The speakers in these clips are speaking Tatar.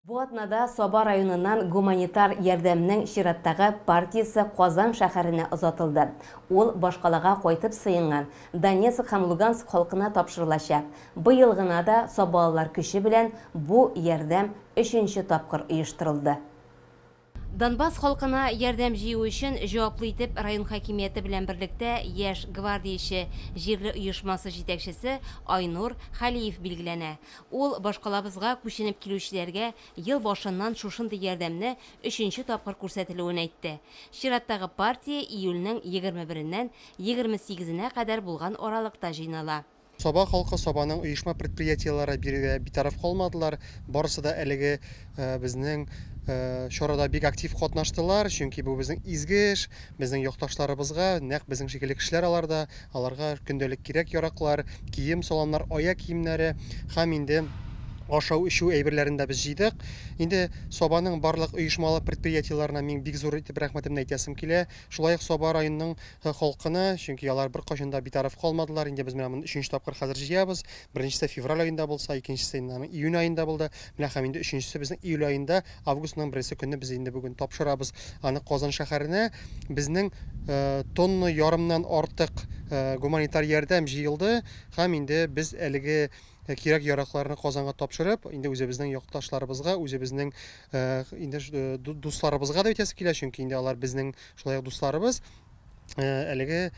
Бу атнада Саба районыннан гуманитар ярдәмнең чираттагы партиясе Казан шәһәренә озатылды. Ул башкалага кайтып сыенган Донецк һәм Луганск халкына тапшырылачак. Быел гына да сабалылар көче белән бу ярдәм өченче тапкыр оештырылды. Донбасс халкына ярдәм җыю өчен җаваплы итеп район хакимияте белән берлектә Яшь гвардияче җирле оешмасы җитәкчесе Айнур Хәлиев билгеләнә. Ул башкалабызга күченеп килүчеләргә ел башыннан шушындый ярдәмне өченче тапкыр күрсәтелүен әйтте. Чираттагы партия июльнең егерме береннән егерме сигезенә кадәр булган аралыкта җыйнала. Саба халкы Сабаның оешма-предприятиеләре бирергә битараф калмадылар, барысы да әлеге безнең чарада бик актив катнаштылар, чөнки бу безнең изге эш, безнең якташларыбызга, нәкъ безнең шикелле кешеләр алар да, аларга көндәлек кирәк-яраклар, кием-саламнар, аяк киемнәре һәм инде ашау-эчү әйберләрен дә без җыйдык. Инде Сабаның барлык оешмалы предприятиеләренә мин бик зур итеп рәхмәтемне әйтәсем килә, шулай ук Саба районының Һы халкына, чөнки алар беркайчан да битараф калмадылар, инде без менә моны өченче тапкыр хәзер җыябыз, беренчесе февраль аенда булса, икенчесе инде аның июнь аенда булды, менә һәм инде өченчесе безнең июль аенда, августның беренче көнне без инде бүген тапшырабыз аны Казан шәһәренә, безнең тонна ярымнан артык гуманитар ярдәм җыелды һәм инде без әлеге кирәк-яракларны Казанга тапшырып, инде үзебезнең якташларыбызга, үзебезнең инде дусларыбызга да әйтәсе килә, чөнки инде алар безнең Шулай ук дусларыбыз әлеге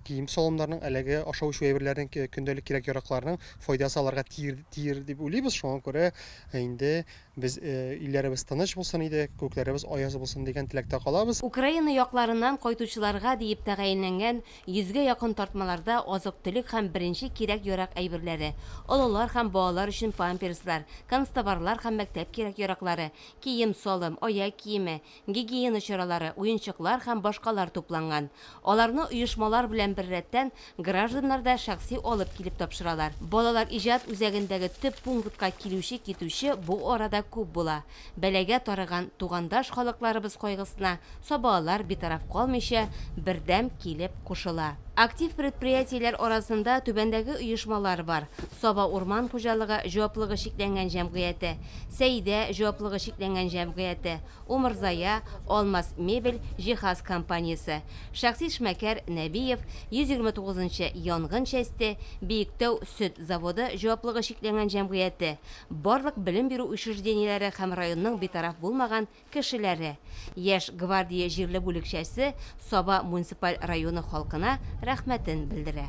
кием салымнарның әлеге ашау эчү әйберләренең көндәлек кирәк яракларның файдасы аларга тиер, тиер дип уйлыйбыз шуңа күрә инде без илләребез тыныч булсын иде күкләребез аяз булсын дигән теләктә калабыз Украина якларыннан кайтучыларга диеп тәгаенләнгән йөзгә якын тартмаларда азык-төлек һәм беренче кирәк-ярак әйберләре, олылар һәм балалар өчен памперслар, канцтоварлар һәм мәктәп кирәк-яраклары, кием-салым, аяк киеме, гигиена чаралары, уенчыклар һәм башкалар тупланган. Аларны оешмалар белән беррәттән, гражданнар да шәхси алып килеп тапшыралар. Балалар иҗат үзәгендәге төп пунктка килүче-китүче бу арада күп була. Бәлагә тарыган тугандаш халыкларыбыз кайгысына сабаалар битараф калмыйча, бердәм килеп кушыла. Актив предприятиеләр арасында түбәндәге оешмалар бар, Саба урман хуҗалыгы җаваплыгы чикләнгән җәмгыяте, Сәидә җаваплыгы чикләнгән җәмгыяте, Умырзая, Алмаз мебель, җиһаз компаниясе, шәхси эшмәкәр Нәбиев, 129 нчы янгын часте, Биектау сөт заводы җаваплыгы чикләнгән җәмгыяте, барлык белем бирү учреждениеләре һәм районның битараф булмаган кешеләре, Яшь гвардия җирле бүлекчәсе Саба муниципаль районы халкына рәхмәтен белдерә.